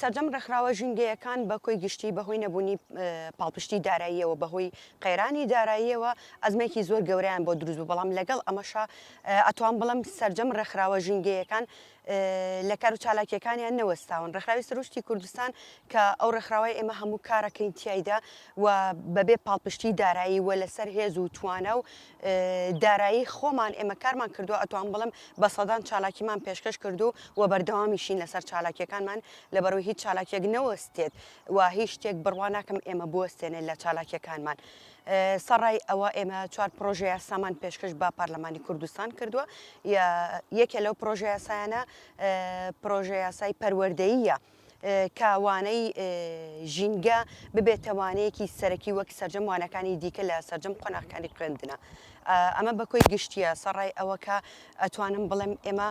سەرجەم ڕێکخراوە ژینگەیەکان بە کۆی گشتی بەهۆی نەبوونی پاڵپشتی داراییەوە بەهۆی قەیرانی داراییەوە ئەزمێکی زۆر گەوریان بۆ دروست بوو بەڵام لەگەڵ ئەمەشا ئەتوان بڵم سەرجەم ڕێکخراوە ژینگەیەکان لە کار و چالاکیەکانیان نەوەستاون ڕێکخراوی سروشتی کوردستان کە ئەو ڕێکخراوی ئێمە هەموو کارەکەین تایدا و بەبێ پاڵپشتی دارایی و لەسەر هێز و توانە و دارایی خۆمان ئێمە کارمان کردووە ئەتوان بڵم بە سەدان چالاکیمان پێشکەش کردو و بەردەوامیشین لەسەر چالاکیەکانمان لە بەرو هیچ چالاکیەک نەوەستێت و هیچ شتێک بڕوا ناکەم ئێمە بوەستێنێت لە چالاکیەکانمان سەڕای ئەوە ئێمە چوار پرۆژەیە سامان پێشکەش بە پارلەمانی کوردستان کردووە یەکێ لەو پرۆژەیە سایانە پرۆژەیە سای پەروەردەیە کە وانەی ژینگە ببێتە وانەیەکی سەرەکی وەک سەرجەم وانەکانی دیکە لە سەرجەم قۆناغکانی خوێندنە ئەمە بە کۆی گشتیە سەڕای ئەوە کە ئەتوانم بڵێم ئێمە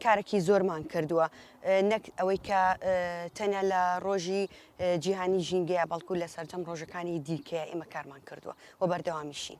کارێکی زۆرمان کردووە نەک ئەوەی کە تەنیا لە ڕۆژی جیهانی ژینگەیە بەڵکو لە سەرجەم ڕۆژەکانی دیکەیە ئێمە کارمان کردووە و بەردەوامیشین.